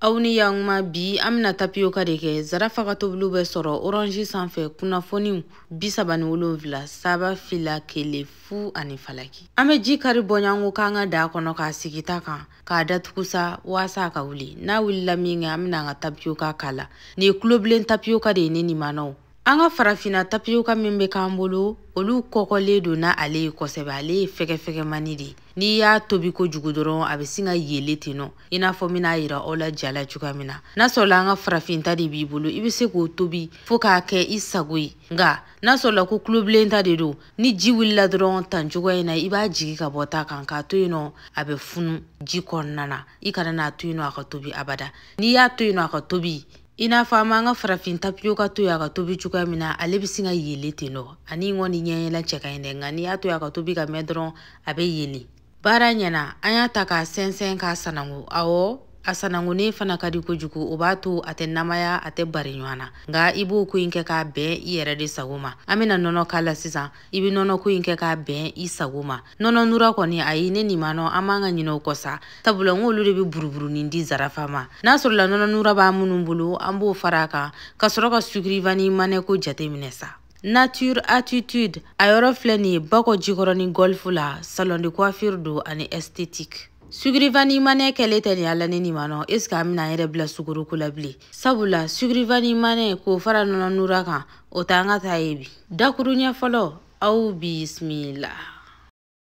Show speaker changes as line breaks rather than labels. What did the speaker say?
aw ni yankuma bi an bɛna tapiyoka de kɛ zarafa ka tobiliw bɛ sɔrɔ oranzi sanfɛ kunnafoniw bisaba ni wolonfila saba fila kelen fu ani falaki an bɛ ji kari bɔɲanko k'an ka daa kɔnɔ k'a sigi ta kan k'a datugu sa waasa a ka wuli n'a wulila min kɛ an bɛna an ka tapiyoka k'a la nin ye tulobilen tapiyoka de ye ne nimanaw an ka farafinna tapiyoka min bɛ k'an bolo olu kɔgɔlen don ni ale ye kosɛbɛ ale ye fɛgɛfɛgɛmani de ye n'i y'a tobi kojugu dɔrɔn a bɛ sin ka yele ten nɔ i n'a fɔ bɛna yira aw la ja la cogoya min na n'a sɔrɔla an ka farafin ta de b'i bolo i bɛ se k'o tobi fo k'a kɛ i sago ye nka n'a sɔrɔla ko tulobilen ta de don ni ji wulila dɔrɔn tan cogoya in na i b'a jigi ka bɔ ta kan k'a to yen nɔ a bɛ funu ji kɔnɔna na i kana n'a to yen nɔ a ka tobi abada n'i y'a to yen nɔ a ka tobi i n'a fɔ an b'an ka farafin tapiyoka to yen a ka tobi cogoya min na ale bɛ sin ka yele ten nɔ ani ŋɔni ɲɛyɛlɛ cɛ ka ɲi dɛ nka n'i y'a to yen a ka tobi ka mɛn dɔrɔn a bɛ yele baara ɲɛna an y'a ta k'a sɛnsɛn k'a sanango awɔ a sanangonnen fana ka di kojugu o b'a to a tɛ namaya a tɛ bari ɲɔgɔn na nka i b'o ko in kɛ k'a bɛn i yɛrɛ de sago ma an bɛna nɔnɔ k'a la sisan i bɛ nɔnɔko in kɛ k'a bɛn i sago ma nɔnɔ nura kɔni ayi ne nin manɔ an man kan ka ɲinɛ u kɔ sa sabula n k'olu de bɛ buruburunin di zarafa ma n'a sɔrɔla nɔnɔ nura b'aw minnu bolo an b'o fara a kan ka sɔrɔ ka sucre vanille manɛ ko jate minɛ sa nature attitude a yɔrɔ filɛ nin ye bakɔ jikɔrɔni golf la salon de coiffure don ani esthétique sucre vanille manɛ kɛlen tɛ ni ala ne nin ma nɔ est-ce que an bɛna an yɛrɛ bila sukaroko la bilen sabula sucre vanille manɛ k'o fara nɔnɔ nura kan o t'an ka taa ye bi dakuruɲɛ fɔlɔ aw bisimila